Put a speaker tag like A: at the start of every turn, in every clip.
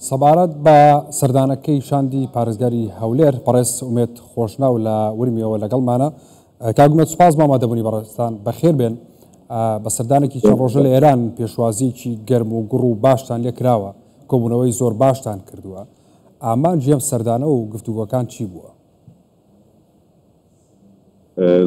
A: سەبارەت بە سەردانەکەی شاندی پارێزگاری هەولێر بەڕێز ئومێد خۆشناو لە ورمیەوە لەگەڵمانە کاک ئومێد سوپاس بۆ ئامادەبوونی بەڕێزتان بەخێر بێن بە سەردانێکی چەند ڕۆژە لە ئێران پێشوازیکی گەرم و گوڕ و باشتان لێ کراوە کۆبوونەوەی زۆر باشتان کردووە ئامانجی ئەم سەردانە و گفتوگۆکان چی بووە؟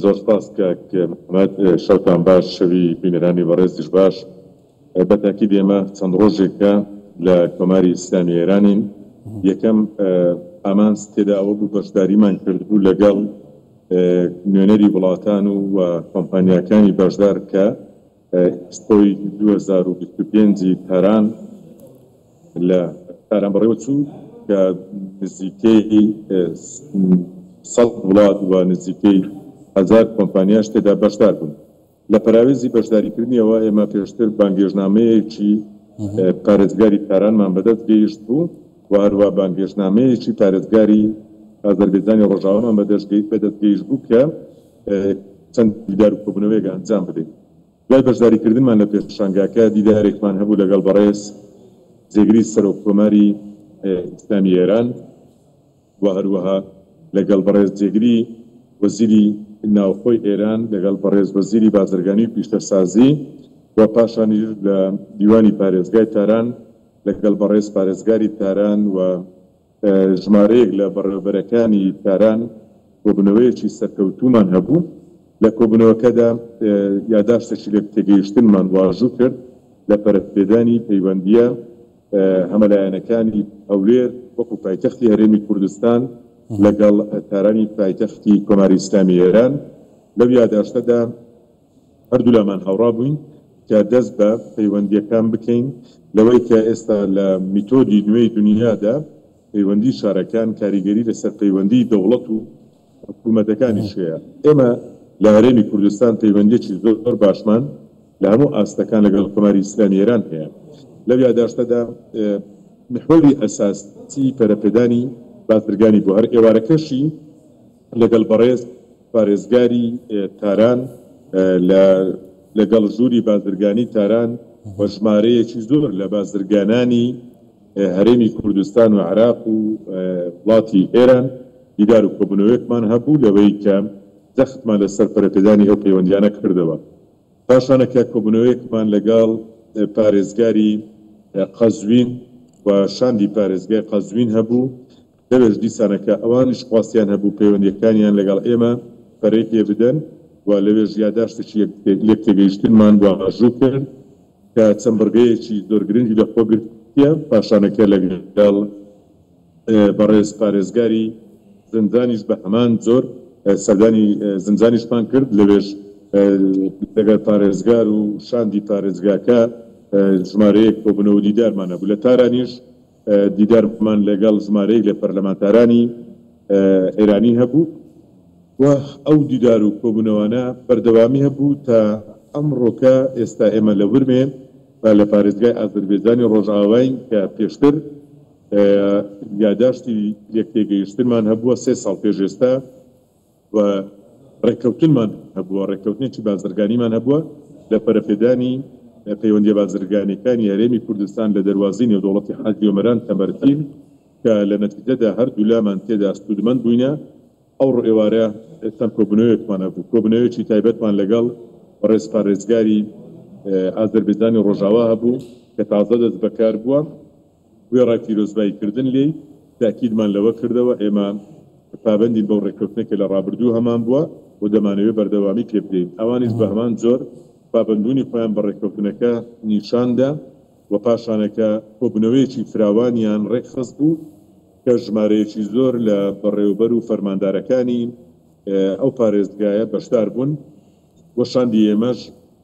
B: زۆر سپاس کاک مەمەد شەوتان باش شەوی بینەرانی بەڕێزیش باش بە تاکید ئێمە چەند ڕۆژێکە لە کۆماری ئیسلامی ئێرانین یەکەم ئامانج تێدا ئەوە بوو بەشداریمان کردبوو لەگەڵ نوێنەری وڵاتان و کۆمپانیاکانی بەشدار کە ئێکسپۆی دوو هەزار و بیست و پێنج ی تاران لە تاران بەڕێوەچوو کە نزیکەی سەد وڵات و نزیکەی هەزار کۆمپانیاش تێدا بەشدار بوون. لە پەراوێزی بەشداریکردنیەوە ئێمە پێشتر بانگێشنامەیەکی پارێزگاری تارانمان بەدەست گەیشت بوو و هەروا بانگێشنامەیەکی پارێزگاری ئازەربێجانی ڕۆژاوامان بەدەست گەیشت بوو کە چەند دیدار و کۆبوونەوەیەک ئەنجام بدەین. دوای بەشداریکردنمان لە پێشانگاکە، دیدارێکمان هەبوو لەگەڵ بەڕێز جێگری سەرۆک کۆماری ئیسلامی ئێران و هەروەها لەگەڵ بەڕێز جێگری وەزیری ناوخۆی ئێران، لەگەڵ بەڕێز وەزیری بازرگانی و پیشەسازی و پاشانیش لە دیوانی پارێزگای تاران لەگەڵ بەڕێز پارێزگاری تاران و ژمارەیەک لە بەڕێوەبەرەکانی تاران کۆبوونەوەیەکی سەرکەوتوومان هەبوو، لە کۆبوونەوەکەدا یاداشتێکی لێکتێگەیشتنمان واژوو کرد لە پەرەپێدانی پەیوەندییە هەمەلایەنەکانی هەولێر وەکو پایتەختی هەرێمی کوردستان لەگەڵ تارانی پایتەختی کۆماری ئیسلامی ئێران، لەو یاداشتەدا. هەردوولامان هاوڕا بووین کە دەست بە پەیوەندییەکان بکەین لەوەی کە ئێستا لە میتۆدی نوێی دونیادا پەیوەندی شارەکان کاریگەری لەسەر پەیوەندی دەوڵەت و حکوومەتەکانیش هەیە. ئێمە لە هەرێمی کوردستان پەیوەندییەکی زۆر باشمان لە هەموو ئاستەکان لەگەڵ کۆماری ئیسلامی ئێران هەیە. لەو یاداشتەدا میحوەری ئەساسی پەرەپێدانی بازرگانی بوو، هەر ئێوارەکەشی. لەگەڵ بەڕێز پارێزگاری تاران لە لەگەڵ ژووری بازرگانی تاران و ژمارەیەکی زۆر لە بازرگانانی هەرێمی کوردستان و عراق و وڵاتی ئێران دیدار و کۆبوونەوەیەکمان هەبوو لەوەی کە جەختمان لەسەر پەرەپێدانی ئەو پەیوەندیانە کردەوە پاشانە کە کۆبوونەوەیەکمان لەگەڵ پارێزگاری قەزوین و شاندی پارێزگای قەزوین هەبوو دەبێت دیسانەکە ئەوانیش خواستیان هەبوو پەیوەندییەکانیان لەگەڵ ئێمە پەرەی پێ بدەن و لەوێش یاداشتێکی لێکتێگەیشتنمان واژوو کرد کە چەند بڕگەیەکی زۆر گرنگی لەخۆ گرتیە، پاشانەکە لەگەڵ بەڕێز پارێزگاری زنجانیش بە هەمان جۆر سەردانی زنجانیشمان کرد، لەوێش لەگەڵ پارێزگار و شاندی پارێزگاکە ژمارەیەک کۆبوونەوە و دیدارمان هەبوو، لە تارانیش. دیدارمان لەگەڵ ژمارەیەک لە پەرلەمانتارانی ئێرانی هەبوو و ئەو دیدار و کۆبوونەوانە بەردەوامی هەبوو تا ئەمڕۆکە، ئێستا ئێمە لە ورمێ و لە پارێزگای ئازەربێجانی ڕۆژئاواین کە پێشتر یاداشتی لێکتێگەیشتنمان هەبووە سێ ساڵ پێش ئێستا. و ڕێککەوتنمان هەبووە، ڕێککەوتنێکی بازرگانیمان هەبووە لە پەرەپێدانی پەیوەندییە بازرگانییەکانی هەرێمی کوردستان لە دەروازەی نێودەوڵەتی حاجی ئۆمەران تەمرتین کە لە نەتیجەدا هەردوولامان تێدا سوودمەند بووینە ئەو ڕێوارە چەند کۆبوونەوەیەکمان هەبوو کۆبوونەوەیەکی تایبەتمان لەگەڵ بەڕێز پارێزگاری ئازەربێجانی ڕۆژاوا هەبوو کە تازە دەست بەکار بووە. وێڕای پیرۆزبایی کردن لێی، تاکیدمان لەوە کردەوە ئێمە پابەندین بەو ڕێککەوتنەی کە لە ڕابردوو هەمان بووە و دەمانەوێت بەردەوامی پێ بدەین، ئەوانیش بە هەمان جۆر پابەندبوونی خۆیان بە ڕێککەوتنەکە نیشان دا و پاشانەکە کۆبوونەوەیەکی فراوانیان ڕێکخست بوو کە ژمارەیەکی زۆر لە بەڕێوەبەر و فەرماندارەکانی ئەو پارێزگایە بەشدار بوون و شاندی ئێمەش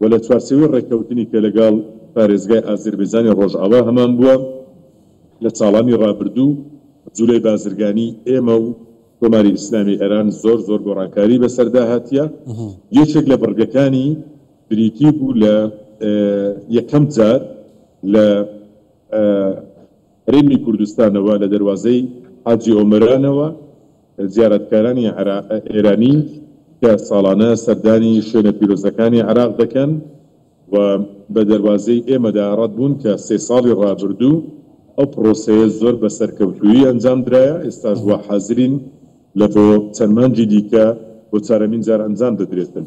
B: و لە چوارچێوەی ڕێککەوتنی کە لەگەڵ پارێزگای ئازربێجانی ڕۆژئاوا هەمان بووە لە چاڵانی ڕابردوو، جولەی بازرگانی ئێمە و کۆماری ئیسلامی ئێران زۆر زۆر گۆڕانکاری بەسەردا هاتیە. یەکێک لە بڕگەکانی بریتی بوو لە یەکەم جار لە. هەرێمی کوردستانەوە لە دەروازەی حاجی ئۆمەرانەوە زیارەتکارانی ئێرانی کە ساڵانە سەردانی شوێنە پیرۆزەکانی عێراق دەکەن و بە دەروازەی ئێمەدا ڕەت بوون کە سێ ساڵی ڕابردوو ئەو پڕۆسەیە زۆر بە سەرکەوتوویی ئەنجام درایە ئێستاش وا حازرین لە بۆ چەند مانگی دیکە بۆ چارەمین جار ئەنجام دەدرێتن.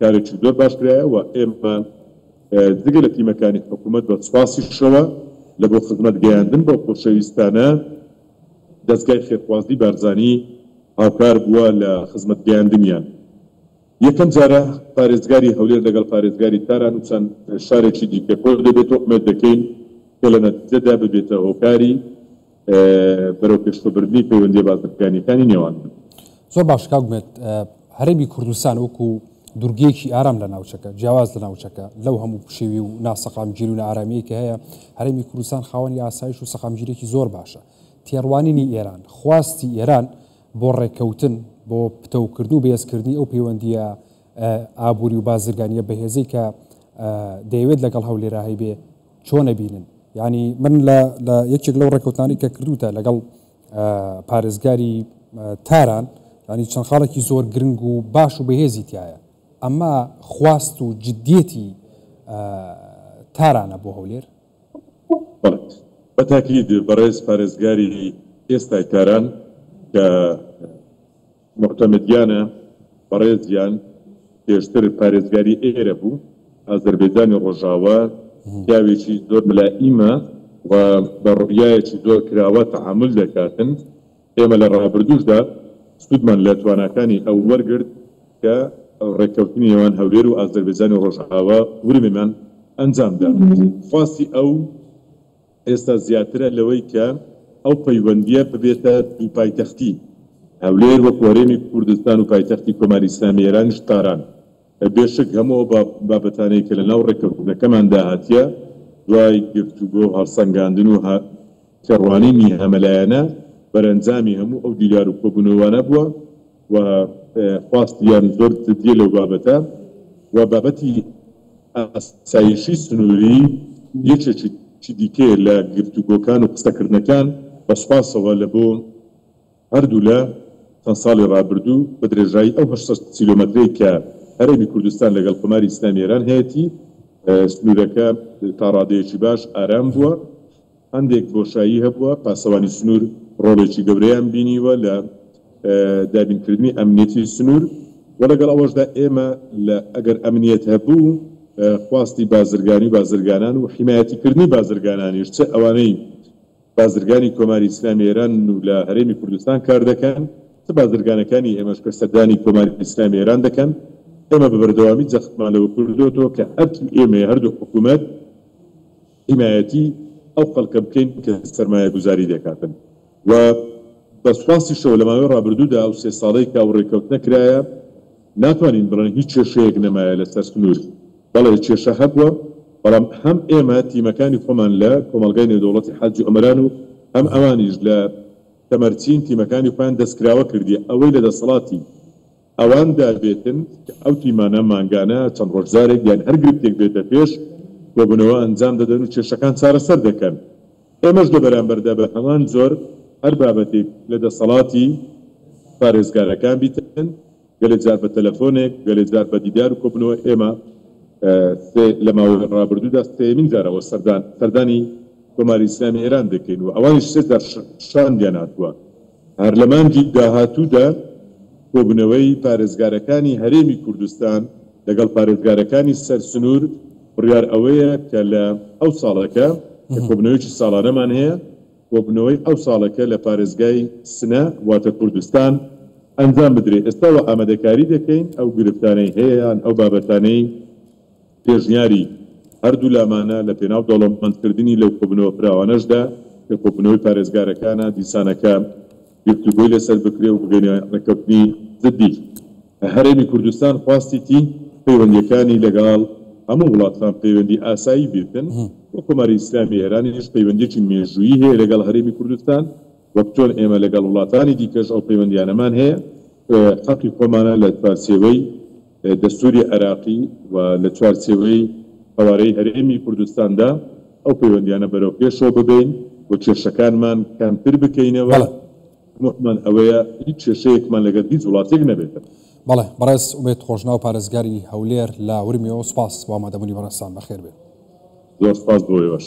B: کارێکی زۆر باش کرایە و ئێمە جگە لە تیمەکانی حکوومەت بە سوپاسیشەوە لە بۆ خزمەت گەیاندن بەو خۆشەویستانە دەزگای خێرخوازی بارزانی هاوکار بووە لە خزمەت گەیاندنیان. یەکەم جارە پارێزگاری هەولێر لەگەڵ پارێزگاری تاران و چەند شارێکی دیکە کۆدەبێت و ئومێد دەکەین کە لە نەتیجەدا ببێتە هۆکاری بەرەو پێشخبردنی پەیوەندیە بازرگانیەکانی نێوانمان. زۆر باش
A: کاک مێت هەرێمی کوردستان وەکو دورگەیەکی ئارام لە ناوچەکە جیاواز لە ناوچەکە لەو هەموو پشێوی و ناسەقامگیر و نارامیەی کە هەیە هەرێمی کوردستان خاوەنی ئاسایش و سەقامگیرێکی زۆر باشە تێڕوانینی ئێران خواستی ئێران بۆ ڕێککەوتن بۆ پتەوکردن و بەهێزکردنی ئەو پەیوەندیە ئابووری و بازرگانیە بەهێزەی کە دەیەوێت لەگەڵ هەولێراهی بێ چۆن ئەبینن یانی من لە لە یەکێک لەو ڕێکوتانی کە کردوتە لەگەڵ پارێزگاری تاران ینی چەند خاڵێکی زۆر گرنگ و باش و بەهێزی تایە ئەمە خواست و جددیەتی تارانە بۆ هەولێر
B: بەتاکیید بەڕێز پارێزگاری ئێستای تاران کە موعتەمەدیانە بەڕێزیان پێشتر پارێزگاری ئێرە بوو، ئازەربەیجانی ڕۆژاوا، پیاوێکی زۆر ملائیمە و بە ڕوئیایەکی زۆر کراوە تەعامول دەکاتن، ئێمە لە ڕابردووشدا سوودمان لە تواناکانی ئەو وەرگرت کە ڕێککەوتنی نێوان هەولێر و ئازەربەیجانی ڕۆژاوا، ورمێمان، ئەنجامدا، خواستی ئەو. ئێستا زیاترە لەوەی کە ئەو پەیوەندییە ببێتە دوو پایتەختی، هەولێر وەکو هەرێمی کوردستان و پایتەختی کۆماری ئیسلامی ئێرانیش تاران. بێ شک هەموو ئەو بابەتانەی کە لەناو ڕێککەوتنەکەماندا هاتیە دوای گفتوگۆ و هەڵسەنگاندن و تێڕوانینی هەمەلایەنە، بەرەنجامی هەموو ئەو دیدار و کۆبوونەوانە بووە. و خواست یان زۆر جدیە لەو بابەتە و بابەتی ئاسایشی سنوری یەکێکی دیکەیە لە گفتوگۆکان و قسەکردنەکان بە سوپاسەوە لە بۆ هەردوولا چەند ساڵی ڕابردوو بە درێژایی ئەو هەشت سەد کیلۆمەترەی کە هەرێمی کوردستان لەگەڵ کۆماری ئیسلامی ئێران هەیەتی سنورەکە تا ڕادەیەکی باش ئارام بووە. هەندێک بۆشایی هەبووە، پاسەوانی سنوور ڕۆڵێکی گەورەیان بینیوە لە دابینکردنی ئەمنیەتی سنوور و لەگەڵ ئەوەشدا ئێمە لە ئەگەر ئەمنیەت هەبوو خواستی بازرگانی و بازرگانان و حیمایەتیکردنی بازرگانانیش چ ئەوانەی بازرگانی کۆماری ئیسلامی ئێرانن و لە هەرێمی کوردستان کار دەکەن چ بازرگانەکانی ئێمەش کە سەردانی کۆماری ئیسلامی ئێران دەکەن ئێمە بە بەردەوامی جەختمان لەوە کردۆتەوە کە ئەرکی ئێمەیە هەردوو حکوومەت حیمایەتی ئەو خەڵکە بکەین کە سەرمایەگوزاری لێکاتن و بە سوپاسیشەوە لەماوەی ڕابردوودا ئەو سێ ساڵەی کە ئەو ڕێککەوتنە کرایە ناتوانین بڵێن هیچ کێشەیەک نەمایە لەسەر سنوور بەڵێ کێشە هەبووە بەڵام هەم ئێمە تیمەکانی خۆمان لە کۆمەڵگای نێودەوڵەتی حاجی ئۆمەران و هەم ئەوانیش لە تەمەرچین تیمەکانی خۆیان دەستکراوە کردیە ئەوەی لە دەسەڵاتی ئەوان داوێتن کە ئەو تیمانە مانگانە، چەند ڕۆژ جارێک یان هەر گرفتێک بێتە پێش، کۆبوونەوە ئەنجام دەدەن و کێشەکان چارەسەر دەکەن. ئێمەش لە بەرامبەردا بە هەمان جۆر هەر بابەتێک لە دەسەڵاتی پارێزگارەکان بیتن، گەلێ جار بە تەلەفۆنێک، گەلێ جار بە دیدار و کۆبوونەوە، ئێمە سێ لە ماوەی ڕابردوودا سێیەمین جارەوە سەردانی کۆماری ئیسلامی ئێران دەکەین و ئەوانیش سێ جار شاندیان هاتووە. هەر لە مانگی داهاتوودا کۆبوونەوەی پارێزگارەکانی هەرێمی کوردستان لەگەڵ پارێزگارەکانی سەر سنوور بڕیار ئەوەیە کە لە ئەو ساڵەکە کە کۆبوونەوەیەکی ساڵانەمان هەیە کۆبوونەوەی ئەو ساڵەکە لە پارێزگای سنە واتە کوردستان ئەنجام بدرێ ئێستاوە ئامادەکاری دەکەین ئەو گرفتانەی هەیە یان ئەو بابەتانەی پێشنیاری هەردوولامانە لە پێناو دەوڵەمەندکردنی لەو کۆبوونەوە فراوانەشدا کە کۆبوونەوەی پارێزگارەکانە دیسانەکە گفتوگۆی لەسەر بکرێ و بگەینە رێککەوتنی جددی. هەرێمی کوردستان خواستیتی پەیوەندییەکانی لەگەاڵ هەموو وڵاتان پەیوەندی ئاسایی بیتن و کۆماری ئیسلامی ئێرانیش پەیوەندییەکی مێژوویی هەیە لەگەڵ هەرێمی کوردستان وەک چۆن ئێمە لەگەڵ وڵاتانی دیکەش ئەو پەیوەندییانەمان هەیە حەقی خۆمانە لە چوارچێوەی دەستووری عێراقی و لە چوارچێوەی قەوارەی هەرێمی کوردستاندا ئەو پەیوەندییانە بەرەو پێشەوە ببەین و کێشەکانمان کەمتر بکەینەوە، تەمەحمان ئەوەیە هیچ کێشەیەکمان لەگەل هیچ وڵاتێک نەبێتەوە. بەڵێ بەڕێز
A: ئومێد خۆشناو پارێزگاری هەولێر لە
B: ورمیەوە،
A: سوپاس بۆ ئامادەبوونی بەڕێزتان، بەخێربێن. زۆر سوپاس بۆ
B: ئێوەش.